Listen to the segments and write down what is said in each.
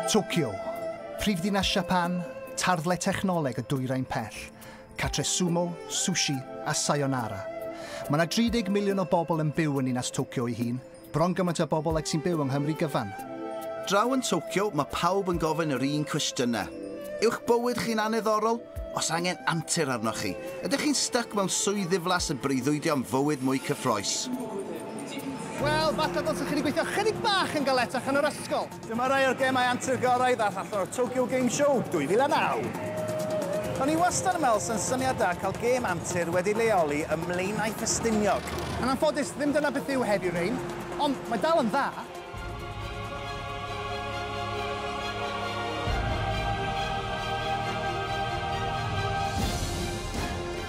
Tokyo, prifddinas Siapan, tarddle technoleg y dwyrain pell, catre sumo, sushi a sayonara. Mae yna 30 miliwn o bobl yn byw yn ninas Tokyo ei hun, bron gymaint o bobl ag sy'n byw yng Nghymru gyfan. Draw yn Tokyo, mae pawb yn gofyn yr un cwestiynau. Yw'ch bywyd chi'n anneddorol? Os angen antur arnoch chi? Ydych chi'n styc mewn swydd ddiflas yn breuddwydio am fywyd mwy cyffroes? Wel, falle dylsech chi wedi gweithio ychydig bach yn galetach yn yr ysgol. Dyma rai o'r gemau antur gorau ddaeth allan o'r Tokyo Game Show 2009. O'n i wastad yn meddwl sa'n syniad da cael gêm antur wedi leoli ym Mlaenau Ffestiniog. Yn anffodus, ddim dyna beth yw Heavy Rain, ond mae dal yn dda.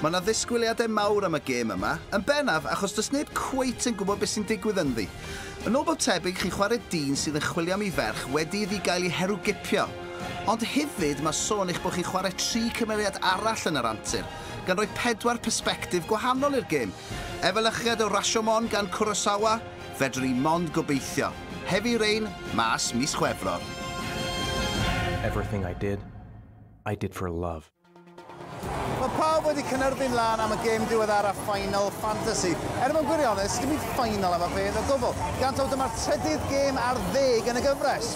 Mae 'na ddisgwyliadau mawr am y gêm yma, yn bennaf achos does neb cweit yn gwybod beth sy'n digwydd ynddi. Yn ôl bob tebyg chi'n chwarae dyn sydd yn chwilio am ei ferch wedi iddi gael ei herwgipio. Ond hefyd mae sôn eich bod chi'n chwarae tri cymeriad arall yn yr antur, gan roi pedwar persbectif gwahanol i'r gêm. Efelychiad o Rashomon gan Kurosawa, fedrwn ni mond gobeithio. Heavy Rain mas mis Chwefror. Everything I did, I did for love. Mae pawb wedi cynerbyn lan am y gêm diweddaraf Final Fantasy. Er mwyn gwirionus, dim byd final am y fedd o gwbl. Gan taw dyma'r trydydd gêm ar ddeg yn y gyfres.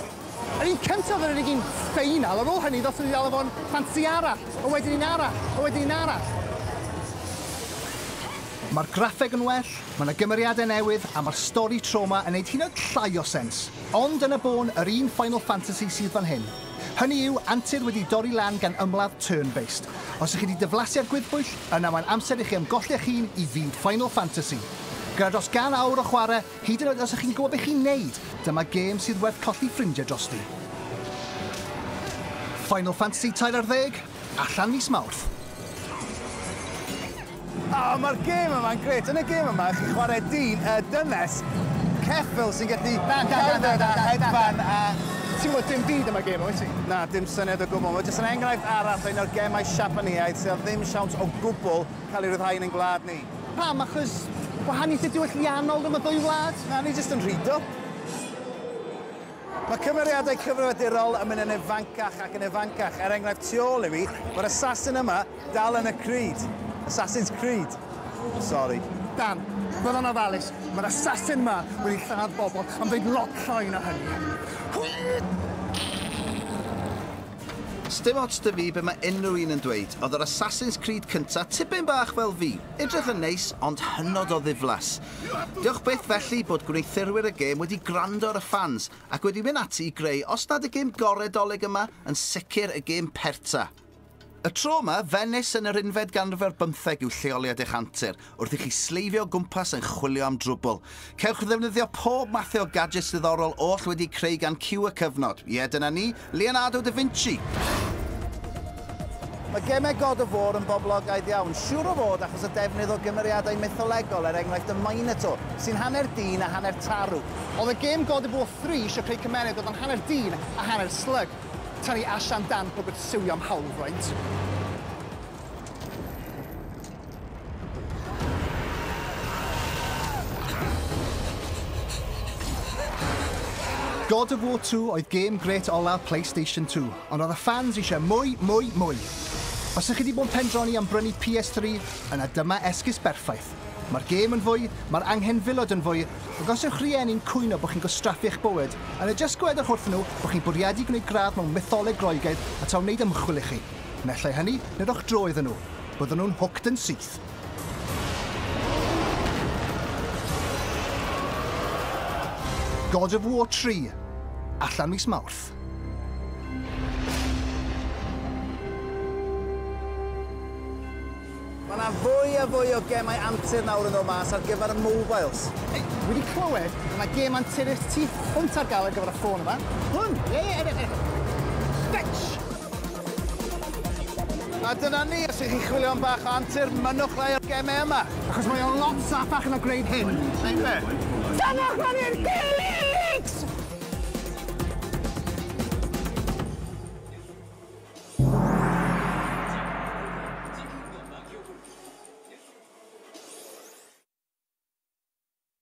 Yr un cyntaf yr unig un final, ar ôl hynny ddos wedi dal efo'n ffansi arall, a wedyn un arall, a wedyn un arall. Mae'r graffeg yn well, Mae 'na gymeriadau newydd a mae'r stori tro 'ma yn neud hyd yn oed llai o sens. Ond yna bôn yr un Final Fantasy sydd fan hyn. Hynny yw, antur wedi dorri lan gan ymladd turn-based. Os ych chi 'di diflasu ar gwddbwyll, yna mae'n amser i chi ymgolli eich hun i fyd Final Fantasy. Gyda dros gan awr o chwarae, hyd yn oed os ych chi'n gwybod be chi'n neud, dyma gêm sydd werth colli ffrindiau drosti. Final Fantasy tair ar ddeg? Allan mis Mawrth. O, mae'r gêm yma'n grêt. Yn y gêm yma, chi'n chwarae dyn, y dynes, ceffyl sy'n gallu cerdded a hedfan a... Ti'n gwybod dim byd am y gêm, wyt ti? Na, dim syniad o gwbl. Mae jyst yn enghraifft arall o un o'r gemau Siapaneaidd sydd â ddim siawns o gwbl cael ei ryddhau yn ein gwlad ni. Pam? Achos gwahaniaethau diwylliannol rhwng y ddwy wlad? Na, ni jyst yn rhy dwp. Mae cymeriadau cyfrifiadurol yn mynd yn ifancach ac yn ifancach, er enghraifft tu ôl i mi, mae'r assassin yma dal yn y Creed. Assassin's Creed. Sori. Dan, fel yn ofalus, mae'r assassin yma wedi lladd bobl am ddeud lot llai na hynny. Sdim ots 'da fi be mae unrhyw un yn dweud, oedd yr Assassin's Creed cynta tipyn bach fel fi. Edrych yn neis, ond hynod o ddiflas. Diolch byth felly bod gwneuthurwyr y gêm wedi gwrando ar y ffans ac wedi mynd ati i greu os nad y gêm gorau Dolig yma, yn sicr y gêm perta. Y tro yma, Fenis yn yr unfed ganrif ar bymtheg yw lleoliad eich antur, wrth i chi sleifio o gwmpas yn chwilio am drwbwl. Cewch ddefnyddio pob mathu o gadjets diddorol oll wedi'u creu gan Cyw y Cyfnod. Ie, dyna ni, Leonardo da Vinci! Mae gemau God of War yn boblogaidd iawn, siŵr o fod achos y defnydd o gymeriadau mytholegol er enghraifft y Minotaur, sy'n hanner dyn a hanner tarw. Oedd y gêm God of War Three isio creu cymeriad oedd yn hanner dyn a hanner slug? Tynnu Asha amdan pob gwrthsywio am hawlfraint. God of War 2 oedd gêm gret olaf PlayStation 2, ond oedd y ffans eisiau mwy, mwy, mwy. Os ych chi wedi bod yn pendroni am brynu PS3, yna dyma esgus berffaith. Mae'r gêm yn fwy, mae'r anghenfilod yn fwy, ac os yw'ch rhieni'n cwyno bod chi'n gwastraffu eich bywyd, yna jyst gwedwch wrthyn nhw bod chi'n bwriadu gwneud gradd mewn mytholeg Groegaidd a taw wneud ymchwil i chi. Naill ai hynny, neu rhowch dro iddyn nhw. Byddwn nhw'n hooked yn syth. God of War 3, allan mis Mawrth. Mae yna fwy a fwy o gemau antur nawr yn dod mas ar gyfer y mobiles. Hey, dwi wedi clywed, mae yna gem anturus tu hwnt ar gael ar gyfer y ffôn yma. Hwn? Ie, ie, edrych, edrych. Bitch! A dyna ni, os ych chi'n chwilio am bach o antur, mynnwch rai o'r gemau yma. Achos mae o lot saffach na gwneud hyn. Neu be? Tynnwch lan i'r gilydd!